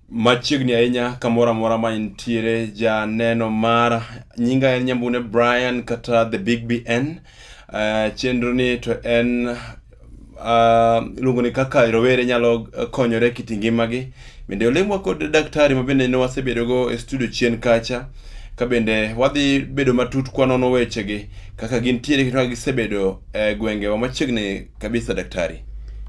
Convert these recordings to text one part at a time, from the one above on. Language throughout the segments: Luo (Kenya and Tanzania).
machiegni ahinya kamoro amora ma intiere janeno mara nyinga en nyambune brian kata the big bn uh, chenro ni to en uh, iluongo ni kaka rowere nyalo konyore kit ngimagi Bende olemwa kod daktari ma bende ne wasebedogo e studio chien kacha ka bende wadhi bedo matut kwanono wechegi kaka gintiere kendo kaka gisebedo e gwengewa machiegni kabisa daktari.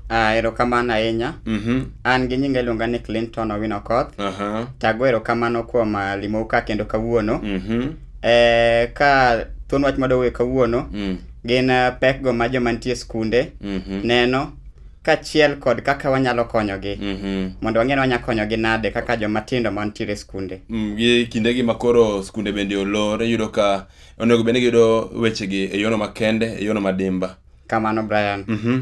Ah, erokamano ahinya. Mhm. An gi nyinga iluonga ni Clinton Owino Koth. Aha. Tago erokamano kuom ah, limou ka kendo kawuono. Mhm. Eh, ka thuon wach madowuoye kawuono Mm. gin ah, pekgo ma joma nitie e skunde Mhm. neno kachiel kod kaka wanyalo konyogi Mhm. mondo wang'e ni wanyalo konyogi nade kaka joma tindo ma nitiere e skunde Mm, gi kinde gi makoro skunde bende olor iyudo ka onego bende giyudo wechegi e yono makende e yono madimba kamano brian Mhm.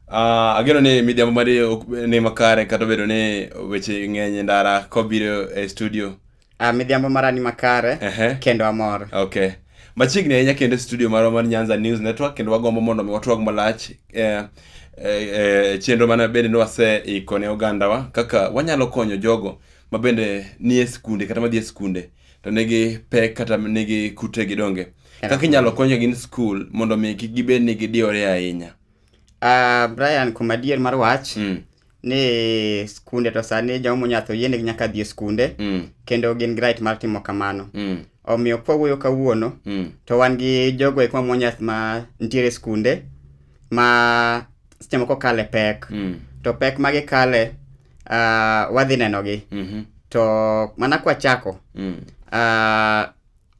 Ah, ageno ni midhiambo mari ok- ni makare kata obedo ni weche ng'eny e ndara kobiro e studio Uh, midhiambo mara ni makare uh -huh. kendo amor okay machiegni ahinya kendo e studio marwa mar nyanza news network kendo wagombo mondo mi watwag malach eh, eh, eh, chenro mane bende ni waseiko ne ogandawa kaka wanyalo konyo jogo ma bende nie skunde kata madhi e skunde to nigi pek kata nigi kute gidonge kaka inyalo konyo gin skul mondo mi kik gibed ni gidiyore ahinya Ah, Brian, kuom adier mar wach, Mm. ni skunde to sani joma monyatho yienegi nyaka dhi e skunde, Mm. kendo gin gi right mar timo kamano. Mm. Omiyo kwawuoyo kawuono, Mm. to wan gi jogo eko mamonyas ma nitiere e skunde, ma seche moko kale pek. Mm. To pek ma gikale, ah, wadhi nenogi. Mhm. To mana kwachako, Mm. ah,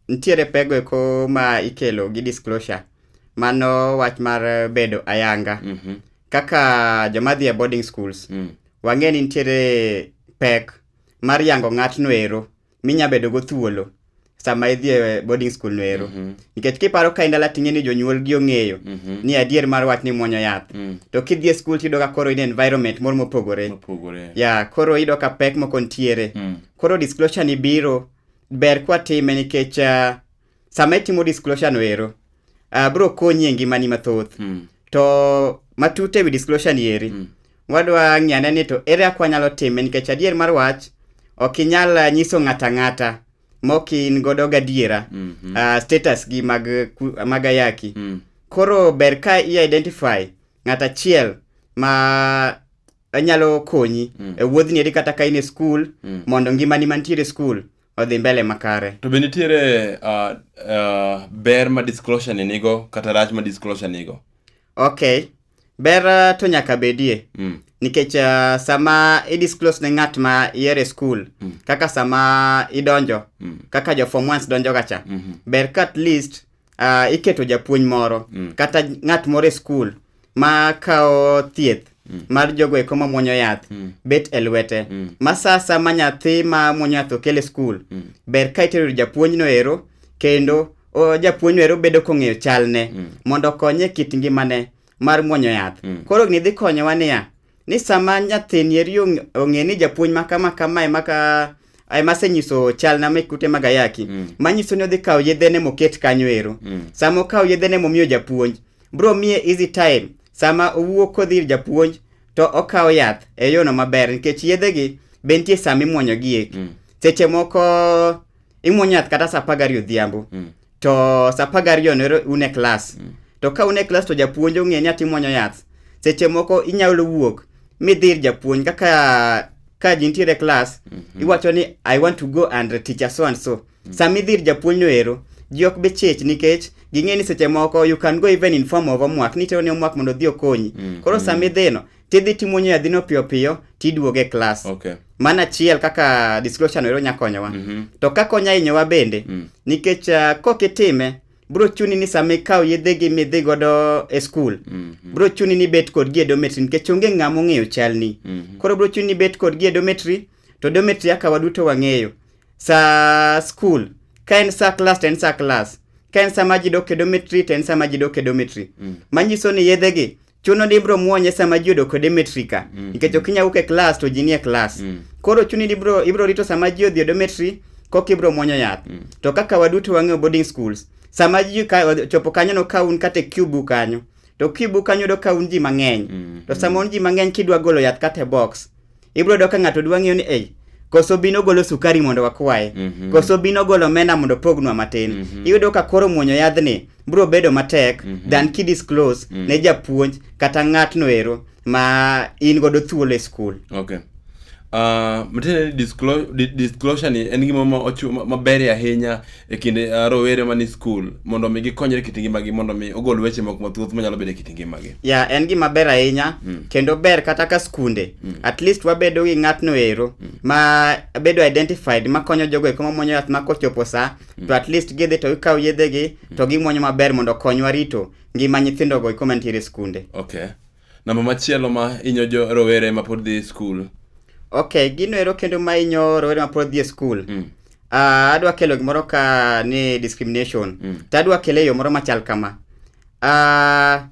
nitiere pego eko ma ikelo gi disclosure. mano wach mar eh, bedo ayanga Mhm. kaka joma dhi e boarding schools Mm. wang'e ni nitiere pek mar yango ng'atno ero minya bedo go thuolo sama idhi e boarding school no ero Mhm. nikech kiparo ka indala ting'e ni jonyuolgi ong'eyo Mhm. ni adier mar wach ni muonyo yath Mm. to kidhi e skul tiyudo ka koro in e environment moro mopogore Mopogore. ya koro iyudo ka pek moko nitiere Mm. koro disclosure ni biro ber kwatime nikech ah, sama itimo disclosure no ero uh, bro konyi e ngimani mathoth mm. to matut ewi disclosure ni eri mm. wadwa ng'iyane ni to ere akwa nyalo time nikech adier mar wach ok inyal ah, nyiso ng'ato ang'ata mok in godo gadiera mm -hmm. uh, status gi mag, mag ayaki mm. koro ber ka i-identify ng'at achiel ma nyalo konyi mm. e wuodhni eri kata ka in e skul mm. mondo ngimani mantiere e skul odhi mbele makare. To be nitiere uh, uh, ber ma disclosure ni nigo kata rach ma disclosure nigo? Okay. Ber uh, to nyaka bedie. Mm. Nikech uh, sama i disclose ne ng'at ma iere school, mm. kaka sama idonjo, mm. kaka jo form ones donjo gacha, mm -hmm. ber ka at least uh, iketo japuonj moro mm. kata ng'at moro e skul ma kawo thieth mm. mar jogo eko ma mwonyo yath mm. bet e lwete mm. ma sa sa ma nyathi ma mwonyo yath okel e skul mm. ber ka itero japuonjno ero kendo o, japuonjno ero bedo kong'eyo chalne mm. mondo okonye kit ngimane mar mwonyo yath mm. koro gini dhi konyowa niya ni sama nyathini eri ong- ong'e ni japuonj ma kama kama ema ka ema asenyiso chalna mek kute mag ayaki Mm. manyiso ni odhi kawo yedhene moket kanyo ero Mm. sama okawo yedhene momiyo japuonj bro miye easy time sama owuok kodhi ir japuonj to okawo yath e yono maber nikech yedhegi be nitie sama imwonyogi eki Mm. seche moko imwonyo yath kata sa apar gariyo odhiambo Mm. to sa apar gariyo nero un e klas mm. to ka un e klas to japuonj ong'e ni atimwanyo yath seche moko inyalo wuok midhir japuonj kaka ka ji nitiere klas mm -hmm. iwacho ni i want to go and teacher so and so mm -hmm. sama idhir japuonj no ero ji ok bi chich nikech ging'e ni seche moko you can go even in form of homework ni tero ni homework mondo odhi okonyi mm -hmm. koro sama idhino tidhi timuonyo yadhino piyo piyo tiduog e klas okay. mana achiel kaka disclosure noero nya konyowa mm -hmm. to kaka onya hinyowa bende mm. nikech uh, ah, kok itime bro chuni ni sama ikawo yedhegi midhi godo e skul mm -hmm. bro chuni ni bet kodgi e dometri nikech onge ng'ama ong'eyo chalni mm -hmm. koro bro chuni ni bet kodgi e dometri to dometri aka waduto wang'eyo sa skul ka en sa klas to en sa klas ka en sama ji dok e dometri to en sama ji dok e dometri mm. manyiso ni yedhegi chuno ni ibro muonye sama ji odo kode metri ka mm. nikech ok inyawuok e klas to ji nie klas mm. koro chuni ni ibro, ibro rito sama ji odhi odo metri koka ibro muonyo yath mm. to kaka waduto wang'eyo boarding schools sama ji ka, chopo kanyono ka un kata e cubu kanyo to cubu kanyo yudo ka un ji mang'eny mm. to sama un ji mang'eny kidwa golo yath kata e box ibro yudo ka ng'ato dwa ng'eyo ni ei koso bino golo sukari mondo wakwaye Mhm. koso bino golo omena mondo pognwa matin Mhm. iyudo ka koro muonyo yadhni bro bedo matek Mhm. than kidisclose Mhm. ne japuonj kata ng'atno ero ma in godo thuolo e skul okay Uh, matiende ni disclo- di- disclosure ni en gima ma ochu- ma- maberie ahinya e kinde uh, rowere mani skul mondo mi gikonyre e kit ngimagi mondo mi ogol weche moko mathoth manyalo bedo e kit ngimagi ya yeah, en gima ber ahinya mm. kendo ber kata ka skunde mm. at least wabedo gi ng'atno ero mm. ma bedo identified makonyo jogo eko mamwonyo yath ma kochopo sa mm. to at least gidhi to gikawo yedhegi mm. to gimwonyo maber mondo konywa rito ngima nyithindogo eko mantiere skunde okay Namba machielo ma inyo jo rowere ma pod dhi skul. Ok, gino ero kendo ma inyo rowere ma pod dhi e skul. Mm. Uh, adwa kelo gimoro ka ni discrimination. Mm. To adwa kele e yo moro machal kama. Uh,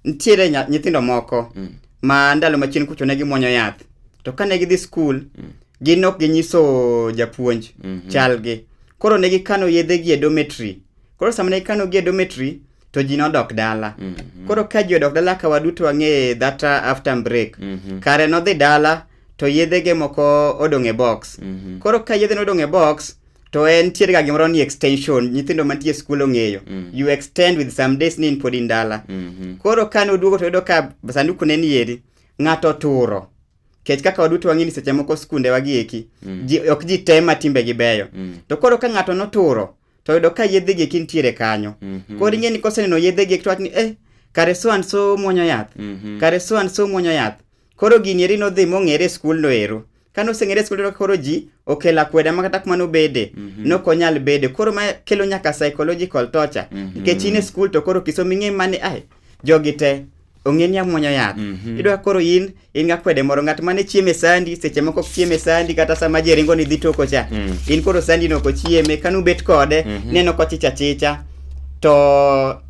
nitiere nyithindo moko mm. ma ndalo machien kucho ne gimwonyo yath. To kane gidhi skul, mm. gin ok ginyiso japuonj mm -hmm. chalgi. Koro ne gikano yedhe gi e dormitory. Koro sama ne gikano gi e dormitory, to ji nodok dala mm -hmm. koro ka ji odok dala ka waduto wang'e that after break mm -hmm. kare nodhi dala to yedhege moko odong' e box mm -hmm. koro ka yedhe nodong' e box to en tiere ga gimoro ni extension nyithindo mantie skul ong'eyo mm. you extend with some days ni in pod in dala mm -hmm. koro ka noduogo to yudo ka sanduku ne nieri ng'ato turo kech kaka waduto wang'e ni seche moko skunde wagieki mm. ji, ok ji te ma timbe gi beyo mm. to koro ka ng'ato noturo to yudo ka yedhe gi eki nitiere kanyo Mhm. koro ing'e ni koseneno yedhe gi eki to wach ni eh kare so and so muonyo yath Mhm. kare so and so muonyo yath koro gini eri nodhi mong'ere e skul no ero kane oseng'ere e skul no koro ji okelo akweda ma kata kuma nobede Mhm. nok onyal bede koro ma kelo nyaka psychological torture Mhm. nikech in e skul to koro kisomo ing'e mane ai jogi te ong'e ni amwonyo yath Mhm. idwa koro in in ga kwede moro ng'at mane chieme sandi seche moko ok chieme sandi kata sama ji ringo ni dhi toko cha Mm. in koro sandi no ok chieme kanu bet kode Mhm. neno kochicha chicha to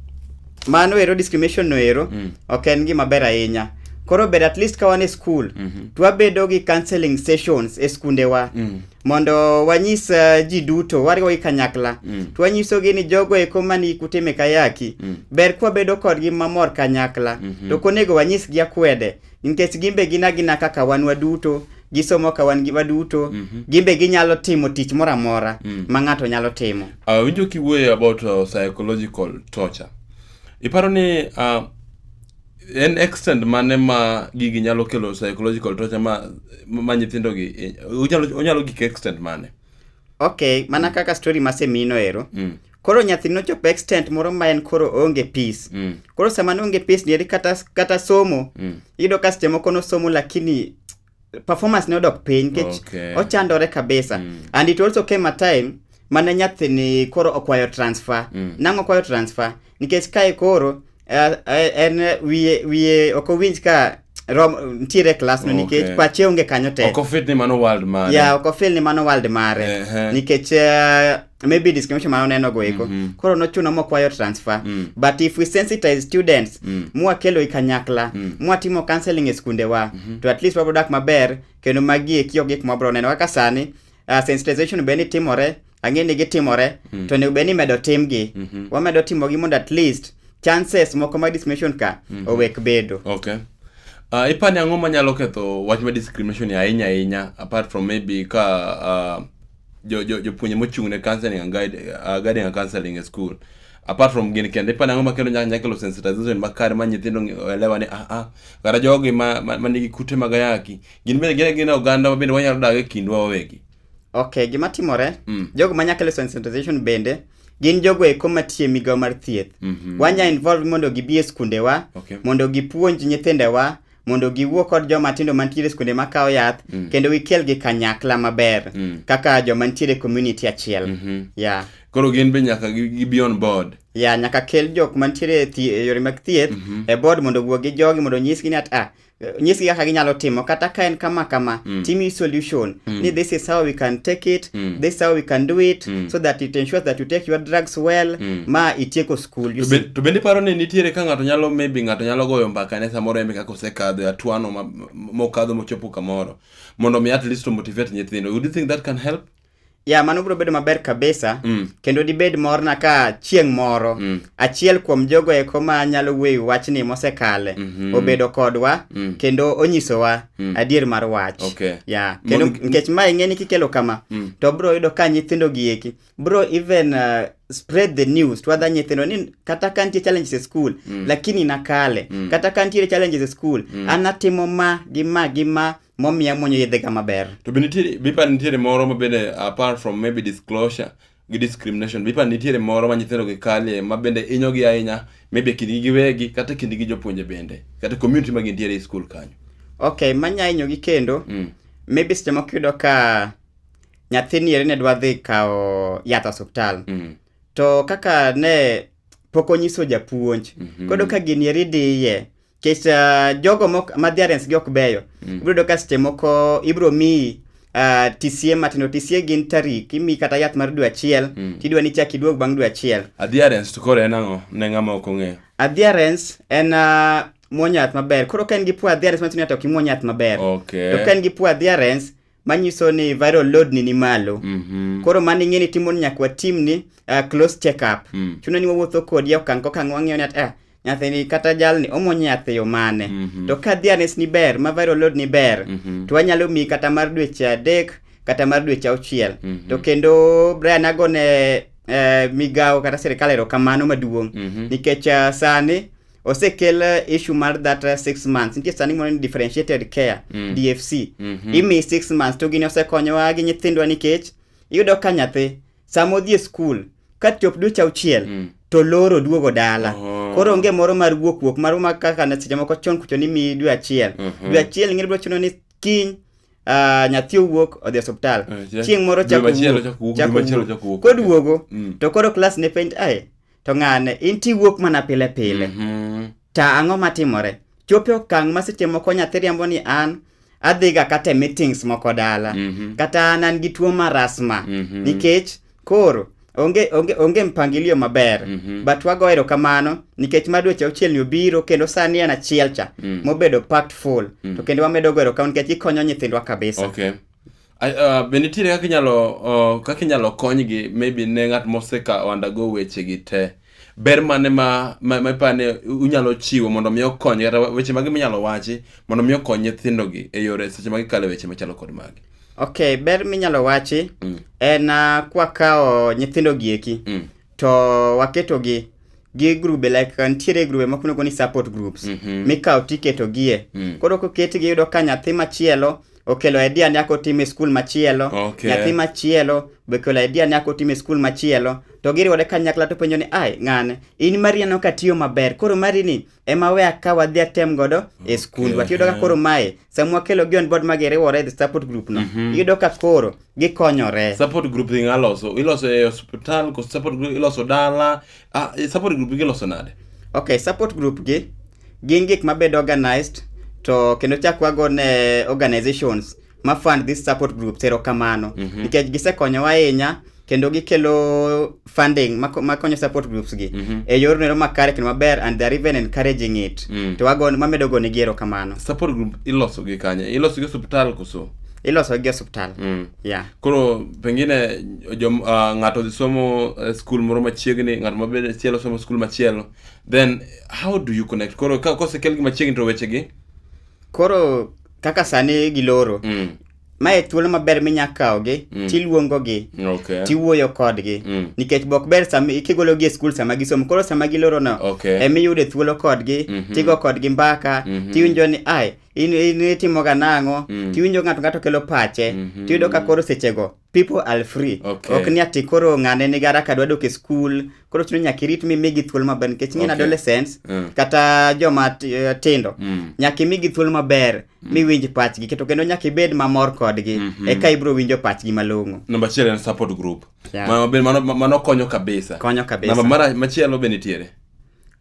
mano ero discrimination no ero Mm. ok en gima ber ahinya koro ber at least ka wan e school Mhm. twabedo gi counseling sessions e skundewa Mm. mondo wanyis uh, ji duto wariwogi kanyakla mm. to wanyisogi ni jogo eko mani kutime kayaki mm. ber kwabedo kodgi mamor kanyakla mm -hmm. to konego wanyisgi akwede nikech gimbe gin agina kaka wan waduto gisomo ka wan giwa duto mm -hmm. gimbe ginyalo timo tich moro amora mm. ma ng'ato nyalo timo awinjo ah, uh, kiwuoyo about uh, psychological torture iparo ni uh, en extent mane ma gigi nyalo kelo psychological torture ma ma nyithindo gi eh, onyalo onyalo gik extent mane okay mana kaka story masemino ero mm. koro nyathi nochopo extent moro ma en koro oonge peace Mm. koro sama noonge peace nieri kata, kata somo Mm. iyudo ka seche moko nosomo lakini performance ne odok piny nikech Okay. ochandore kabisa Mm. and it also came a time mane nyathini koro okwayo transfer Mm. nang'o okwayo transfer nikech kae koro eh, eh, en eh, wiye wiye ok owinj ka rom ntiere klasno Okay. nikech pache onge kanyo te ok ofit ni mano world mare ya ok ofil ni mano world mare Ehe. nikech eh, maybe discrimination mano neno go eko mm -hmm. koro nochuno mokwayo transfer mm. but if we sensitize students mm. mwakelo i kanyakla mm. mwatimo counseling e skundewa mm -hmm. to at least wabrodak maber kendo magi eki ok gik mwabro neno kaka sani uh, sensitization be ni timore ang'e ni gitimore mm. to onego bed ni medo timgi mm -hmm. wamedo timogi mondo at least chances moko mag discrimination ka mm -hmm. owek bedo okay. Uh, ipani ang'o manyalo ketho wach ma discrimination ahinya ahinya apart from maybe ka uh, jo jo jopuonje mochung' ne counseling and guide, uh, guiding and counseling e school apart from gini kende ipani ang'o makelo nyaka nyaka kelo sensitization makare ma nyithindo ng'e- elewa ni ah ah kata jogi ma ma- ma nigi kute mag ayaki gin bende gin gin oganda ma bende wanyalo dak e kindwa wawegi okay gima timore Mm. jogo manya kelo sensitization bende gin jogo eko matie migawo mar thieth Mhm. wanya involve mondo gibi e skundewa Okay. mondo gipuonj nyithindewa mondo giwuo kod joma tindo mantiere skunde makawo yath mm. kendo gikel gi kanyakla maber mm. kaka joma nitiere community achiel mm -hmm. yeah. koro gin be nyaka gibi on board ya yeah, nyaka kel jok mantiere e yore mag thieth mm -hmm. e board mondo wuo gi jogi mondo nyisgi ni at ah, nyisgi kaka ginyalo timo kata ka en kama kama mm. timi solution mm. ni this is how we can take it mm. this is how we can do it mm. so that it ensures that you take your drugs well mm. ma itieko cool. You To see? be- to bende iparo ni nitiere ka ng'ato nyalo maybe ng'ato nyalo goyo mbaka ne samoro eme kaka osekadho e atwano ma- mokadho mochopo kamoro mondo mi at least to motivate nyithindo would you think that can help ya mano biro bedo maber kabisa Mm. kendo dibed morna ka chieng' moro Mm. achiel kuom jogo eko ma nyalo wueyo wachni mosekale Mhm. obedo kodwa Mm. kendo onyisowa Mm. adier mar wach Okay. ya kendo Mondo- nikech ma ing'e ni kikelo kama Mm. to biro yudo ka nyithindo gieki bro even uh, spread the news to other nyithindo ni kata ka nitie challenges e school mm. lakini nakale mm. kata ka nitiere challenges e school mm. anatimo ma gi ma gi ma momiya mwonyo yedhega maber to be nitiere bipa nitiere moro ma bende apart from maybe disclosure gi discrimination bipa nitiere moro ma nyithindo gi kalie ma bende inyogi ahinya maybe kindgi giwegi kata kindgi gi jopuonje bende kata community ma gintiere e school kanyo okay manya inyogi kendo mm. maybe seche moko yudo ka nyathini eri ne dwa dhi kawo yath osiptal Mm. to kaka ne pok onyiso japuonj Mhm. kodo ka gini eri diye kech uh, jogo mok madhiarens gi ok beyo Mm. ibiro yudo ka seche moko ibiro miyi uh, tisie matindo tisie gin tarik imiyi kata yath mar dwe achiel Mm. tidwa ni chak iduog bang' dwe achiel adherence to koro en ang'o ne ng'ama ok ong'eyo adherence en uh, muonyo yath maber koro ka en gi poor adherence matindo to ok imuony yath maber okay to ka en gi poor adherence manyiso ni viral load ni ni malo mm -hmm. koro mano ing'e ni timo ni nyaka watim ni uh, close check up mm. chuno ni wawuotho kodi e okang' kokang' wang'eyo ni at eh, nyathini kata jalni omonyo yath eyo mane mm -hmm. to ka dianes ni ber ma viral load ni ber mm -hmm. to wanyalo miyi kata mar dweche adek kata mar dweche auchiel mm -hmm. to kendo Brian agone eh, migawo kata sirikal erokamano maduong' mm -hmm. nikech uh, sani osekel eh, issue mar that eh, six months nitie sani moro ni differentiated care Mm. dfc Mhm. imi six months to gini osekonyowa gi nyithindwa nikech iyudo ka nyathi sama odhi e skul ka chop dweche auchiel Mm. to loro duogo dala Oh. koro onge moro mar wuok wuok mar ma kaka na seche moko chon kucho ni mi dwe achiel Mhm. dwe achiel ing'e bro chuno ni kiny ah, nyathi owuok odhi e osiptal Eh, ja- chieng' moro dwe chako machielo wuok, chako wuok, chako dwe machielo wuok. chako wuok. koduogo Mm. to koro klas ne penj ae to ng'ane in tiwuok mana pile pile Mhm. to ang'o matimore chopo e okang' ma seche moko nyathi riambo ni an adhiga kata e meetings moko dala Mhm. kata an an gi tuo mar asma Mhm. nikech koro onge onge onge mpangilio maber Mhm. but wago erokamano nikech ma dweche auchiel ni obiro kendo sani en achiel cha Mm. mobedo packed full to kendo wamedo go erokamano nikech ikonyo nyithindwa kabisa Okay. Uh, be nitiere kaka inyalo uh, kaka inyalo konygi maybe ne ng'at moseka undergo wechegi te ber mane ma ma ma ipa ni unyalo chiwo mondo mi okony kata weche mage minyalo wachi mondo mi okony nyithindogi e yore seche ma gikale weche machalo kod magi ok ber minyalo wachi mm. en uh, kwakawo nyithindo gieki mm. to waketogi gi grube like uh, nitiere grube moko miluongo ni support groups mm -hmm. mikawo tiketogie mm. koro koketgi yudo ka nyathi machielo mm. okelo idea ni ako tim e skul machielo Okay. nyathi machielo be okelo idea ni ako tim e skul machielo to giriwore kanyakla to penjo ni ai ng'ane in mari aneno ka tiyo maber koro mari ni ema we akaw adhi atem godo e skundwa Okay. tiyudo ka koro mae sama wakelo gi on board ma giriwore the support group no iyudo ka koro gikonyore support group thing aloso iloso e hospital ko support group iloso dala ah, eh, support group iloso nade okay support group gi Gin gik mabed organized to kendo chak wago ne organizations ma fund this support groups erokamano mm -hmm. nikech gisekonyowa ahinya kendo gikelo funding makonyo support groups gi mm -hmm. e yor nero makare kendo maber and they're even encouraging it mm. to wago mamedo gone gi erokamano support group iloso gi kanye iloso gi hospital koso iloso gi osuptal mm. yeah. koro pengine jo, uh, ng'ato odhi somo uh, skul moro machiegni ng'ato mabende chielo somo skul machielo then how do you connect koro ka kosekelgi machiegni to wechegi koro kaka sani giloro mm. mae thuolo maber minya kawogi mm. tiluongogi okay. tiwuoyo kodgi mm. nikech bok ber kigologi e skul sama gisomo koro sama gilorono okay. emiyude thuolo kodgi mm -hmm. tigo kodgi mbaka mm -hmm. tiwinjo ni ai in, in itimoga nang'o mm. tiwinjo ng'ato ng'ato kelo pache mm -hmm. tiyudo ka koro sechego people are free okay. ok ni ati koro ng'ane ni gara kadwa dok e skul koro chuno nyaka irit mimigi thuolo maber nikech ing'e okay. adolescents mm. kata joma eh, tindo mm. nyaka imigi thuolo maber mm. miwinj pachgi keto kendo nyaka ibed mamor kodgi mm -hmm. eka ibiro winjo pachgi malong'o namba achiel en support group yeah. mano, mano, mano konyo kabisa konyo kabisa namba machielo be nitiere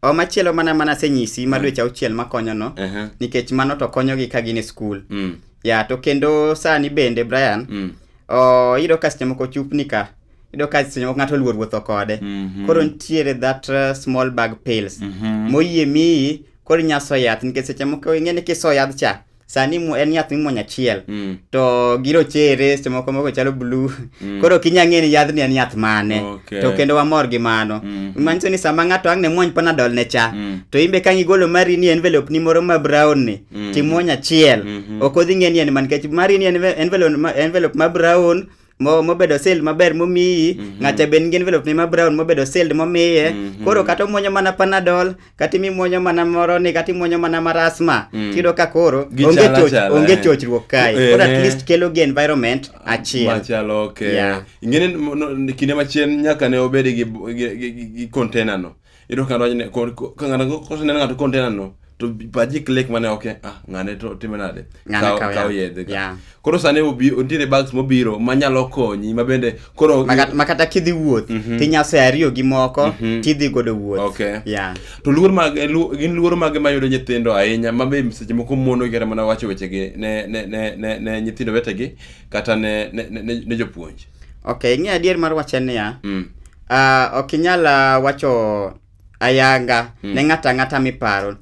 O machielo mana mana asenyisi ma dweche auchiel makonyono Aha. nikech mano to konyogi ka gin e skul. Mm. Ya to kendo sani bende Brian Mm. o iyudo ka seche moko chupni ka iyudo ka seche moko ng'ato oluor wuotho kode. Mhm. Koro nitiere that uh, small bag pills Mhm. moyie miyi koro inya so yath nikech seche moko ing'e ni kiso yadh cha sani mu- en yath mimuonyo achiel Mm. to girochere seche moko moko chalo blu Mm. koro kinya ng'e ni yadhni en yath mane Okay. to kendo wamor gi mano Mm. manyiso ni sama ng'ato ang' ne muony panadol ne cha Mm. to imbe ka igolo mari ni envelope ni moro ma brown ni Mm. timuony achiel Mhm. ok odhi ng'e ni en man kech mari ni enve- envelope ma- envelope ma brown mo mobedo sealed maber momiyi mm -hmm. ng'acha ben ngin velop ni ma brown mobedo sealed momiye mm -hmm. koro kata omuonyo mana panadol kata imimuonyo mana moro ni kata imuonyo mana marasma mm. tiyudo ka koro onge choch onge eh. chochruok kae eh, koro at eh. least kelo gi environment ah, achiel machalo okay yeah. ingene kinde machien nyaka ne obed gi, gi, gi, gi container no Iyudo ka ng'ato ne ko- ko- ka ng'ato koseneno ng'ato kontena no to paji click mane ok e, ah ng'ane to time nade Ng'ane Kaw- kaw kaw yath. yedhe ka. Yeah. koro sani obi nitiere bags mobiro manyalo konyi ma bende koro Maka- makata kidhi wuoth tinyaso ariyo gi moko tidhi godo wuoth Okay. yeah. to luor mag eh, lu- gin luoro mage mayudo nyithindo ahinya ma be seche moko mono kata mana wacho wechegi ne ne ne ne, ne nyithindo wetegi kata ne ne, ne, ne, ne jopuonj okay ing'e adier mar wache niya mm. Ah, ok inyal ah, wacho ayanga Mm. ne ng'ato ang'ata miparo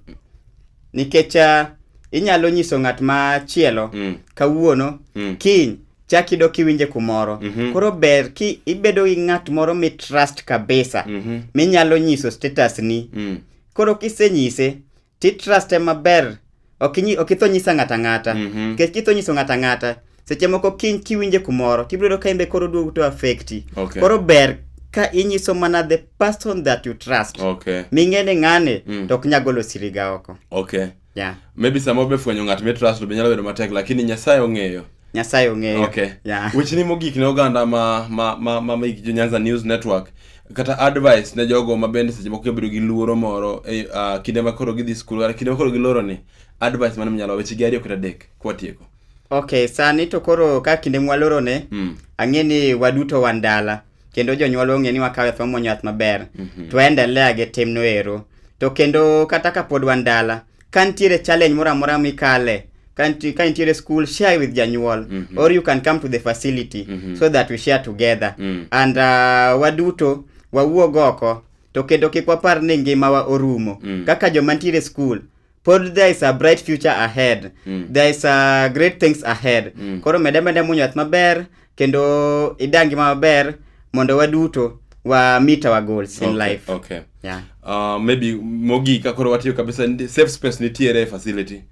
nikech ah, inyalo nyiso ng'at machielo Mm. kawuono Mm. kiny chak ido kiwinje kumoro Mhm. koro ber ki ibedo gi ng'at moro mitrust kabisa Mhm. minyalo nyiso status ni Mm. koro kisenyise titruste maber ok inyi- ok itho nyisa ng'ata ng'ata Mhm. nikech kitho nyiso ng'ata ng'ata seche moko kiny kiwinje kumoro tibiro yudo ka imbe koro duogo to affecti Okay. koro ber ka inyiso mana the person that you trust okay ming'e ni ng'ane Mm. to ok nya golo siriga oko okay yeah. maybe sama obefwenyo ng'at mitrust be nyalo bedo matek lakini nyasaye ong'eyo Nyasaye ong'eyo. Okay. Yeah. Wechni mogik ne oganda ma ma ma ma mek jo Nyanza News Network kata advice ne jogo ma bende seche moko kebedo gi luoro moro e uh, kinde ma koro gidhi skul kata kinde ma koro giloro ni advice mane minyalo weche gi ariyo kata adek kwatieko. Okay, sani to koro ka kinde mwaloro ne mm. ang'e ni waduto wan dala kendo jonyuol ong'e ni wakawe thwa mwonyo yath maber mm -hmm. to endelea gi timno ero to kendo kata ka pod wan dala ka nitiere challenge moro amora mikale ka niti- ka nitiere school share with janyuol Mhm. or you can come to the facility Mhm. so that we share together Mm. and uh, waduto wawuog oko to kendo kik wapar ni ngimawa orumo Mm. kaka joma nitiere school pod there is a bright future ahead Mm. there is a great things ahead Mm. koro mede mede munyo yath maber kendo idag ngima maber mondo waduto wa meet our goals in okay, life okay yeah uh, maybe mogi ka koro watiyo kabisa safe space nitiere facility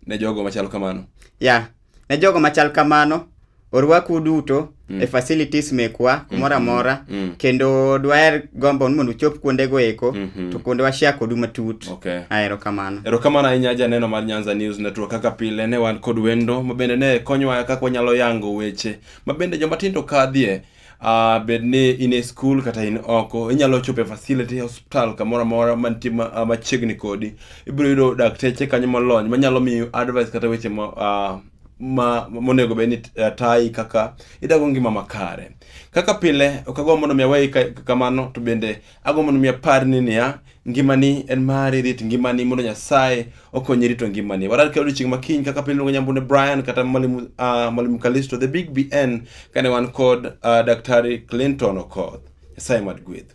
ne jogo machal kamano yeah ne jogo machal kamano orwaku duto mm. e facilities mekwa mm-hmm. kumoro amora mm. mm. kendo dwaher gombo ni mondo uchop kuondego eko mm -hmm. to kuonde washare kodu matut Okay. Ah, erokamano. Erokamano ahinya janeno mar Nyanza News Network kaka pile ne wan kod wendo mabende ne konyowa kaka wanyalo yango weche mabende joma tindo kadhie uh, bed ni in e school kata in oko inyalo chopo e facility hospital kamoro amora mantie ah, machiegni kodi ibiro yudo dakteche kanyo molony manyalo miyo advice kata weche ma, uh, ma monego bed ni uh, tayi kaka idago ngima makare kaka pile okago mondo mi aweyi kamano to bende Agombo mondo mi apar ni niya, ngimani en mari, rit ngimani mondo Nyasaye okonyi rito ngimani. Warar kendo odiochieng' ma kiny kaka piny luongo nyambune Brian kata Mwalimu uh, Mwalimu Kalisto the Big BN kane wan kod uh, Daktari Clinton Okoth. Nyasaye mad gweth.